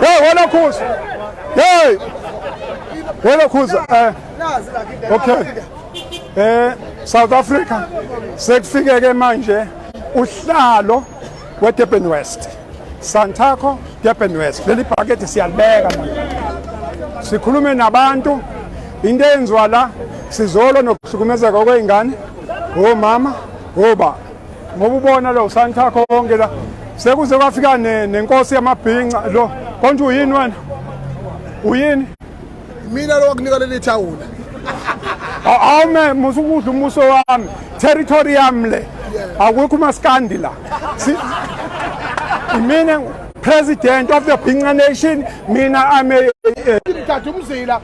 Hey wena khuza. Hey. Wena khuza. Eh. Okay. Eh South Africa sekufike ke manje uhlalo we Durban West. Santaco Durban West. Leli bhakede siyalibeka manje. Sikhulume nabantu into eyenziwa la sizolo nokuhlukumezeka kwey'ngane womama woba ngoba ubona lo usanthakho konke la sekuze kwafika nenkosi yamabhinca lo konje uyini wena uyini mina lo wakunika leli thawula awume musukudla umuso wami territory yami le akukho umaskandi la imina president of the Binga nation mina ame eh, eh. ngithatha umzila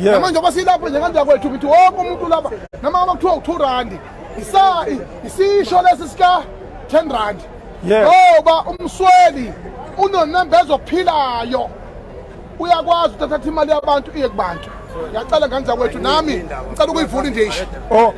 Yeah. Namanje ngoba silapho nje kanti yakwethu ukuthi wonke umuntu lapha nama bakuthiwa u2 rand. Isa isisho lesi sika 10 rand. Yeah. Ngoba umsweli unonembeza ophilayo. Uyakwazi uthatha imali yabantu iye kubantu. Ngiyacela ngane zakwethu nami ngicela ukuyivula nje isho. Oh.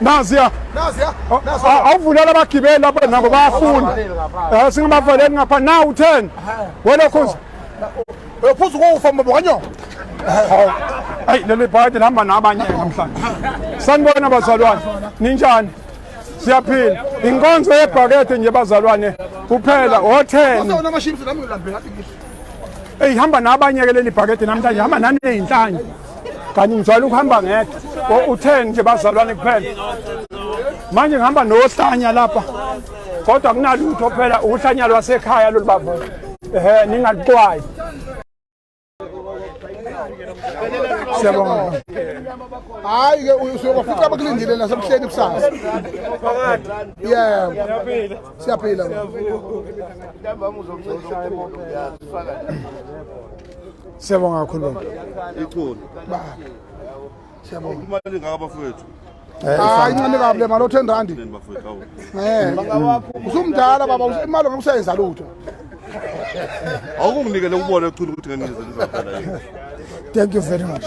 naziya awuvulele abagibeli lapha nabo bayafuna eh, singabavaleli ngapha nawu ten welokhozi uyophuza ukufa mbobo kanyoko ayi leli bhayede lihamba nabanye namhlanje sanibona bazalwane ninjani siyaphila inkonzo yebhakede nje bazalwane kuphela otheni eyi hamba nabanye ke leli bhakede namhlanje hamba naneyinhlanye kanti ngijwayele ukuhamba ngedwa oh, u-10 nje bazalwane kuphela manje ngihamba nohlanya lapha kodwa kunalutho phela uhlanya lwasekhaya lolu baba ehe ningaluxwayi siyabonga hayi ke usuyobafica abakulindile nasebuhleni kusasa yebo siyaphila Siyabonga kakhulu baba. Ikhona. Baba. Siyabonga. Uma lingaka bafowethu. hayi ncane kabi le mali o-ten randi usumdala baba imali ngeke usayenza lutho awukunginikele ukubona echulu ukuthi ngenizelizaphela thank you very much